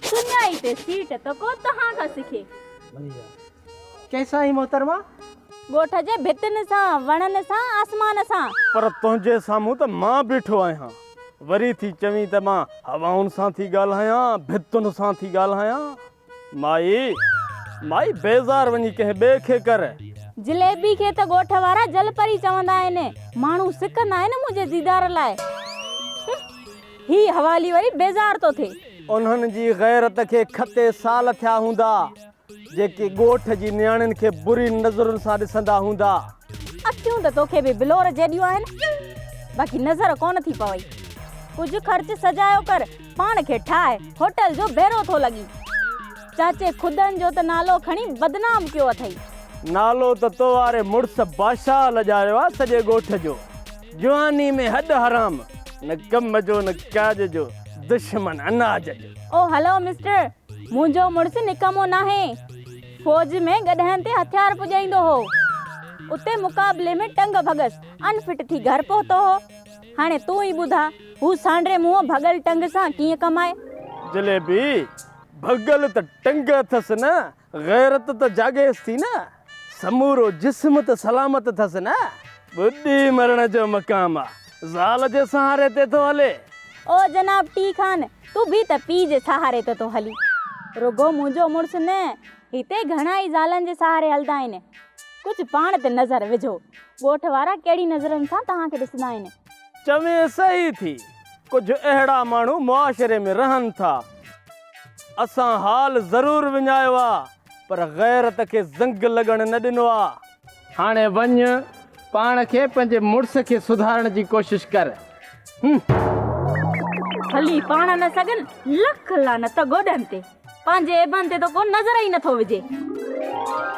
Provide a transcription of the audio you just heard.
سڃائي تي سيٽ ته ڪو توهان کان سکي. چئي سائين محترما. ڳوٺ جي ڀتين سان، وڻن سان، آسمان سان. پر تنهنجي سامهون ته مان بيٺو آهيان. وري ٿي چوين ته مان هوائن سان ٿي ڳالهايان، ڀتن سان ٿي ڳالهايان. مائي، مائي بيزار وڃي ڪنهن ٻئي کي ڪر. جليبي کي ته ڳوٺ وارا جل پري چوندا آهن. ماڻهو سڪندا آهن منهنجي ديدار لاء. هي حوالي وري بيزار ٿو ٿئي. انهن جي غيرت کي کتي سال ٿيا هوندا، جيڪي ڳوٺ جي نياڻين کي بري نظرن سان ڏسندا هوندا. اکيون ته توکي به بلور جيڏيون آهن، باقي نظر ڪونه ٿي پوي. ڪجهه خرچ سجايو ڪر. پاڻ کي ٺاهي هوٽل جو ڀيرو ٿو لڳين. چاچي خدن جو ته نالو کڻي بدنام ڪيو اٿئي. نالو ته تو واري مڙس باشاهه لڄايو آ سڄي ڳوٺ جو. جواني ۾ هڏ حرام، نه ڪم جو نه ڪاڄ جو، دشمن اناج جو. او هلو مسٽر، منهنجو مڙس نڪمو ناهي. فوج ۾ گڏهن تي هٿيار پڄائيندو هو. اتي مقابلي ۾ ٽنگ ڀڳس ان فٽ ٿي گهر پهتو هو. هاڻي تون ئي ٻڌاء، هو سانڊري منهن ڀڳل ٽنگ سان ڪيئن ڪم آهي؟ جليبي، ڀڳل ته ٽنگ اٿس نه، غيرت ته جاڳيس ٿي نه، سمورو جسم ته سلامت اٿس نه، ٻڏي مرڻ جو مقام آ، زال جي سهاري تي ٿو هلي. او جناب ٽي خان، تون به ته پيء جي سهاري تي ٿو هلين. رڳو منهنجو مڙس نه، هتي گهڻا ئي زالن جي سهاري هلندا آهن. ڪجهه پاڻ تي نظر وجهو. ڳوٺ وارا ڪهڙي نظرن سان توهان کي ڏسندا آهن. چوين صحيح ٿي. ڪجهه اهڙا ماڻهو معاشري ۾ رهن ٿا. اسان حال ضرور وڃايو آ پر غيرت کي زنگ لڳڻ نه ڏنو آ. هاڻي وڃ پاڻ کي پنهنجي مڙس کي سڌارڻ جي ڪوشش ڪر هلي پاڻ نه سگهن لک لعنت گوڏن تي پنهنجي ايبن تي ته ڪو نظر ئي نٿو وجهي.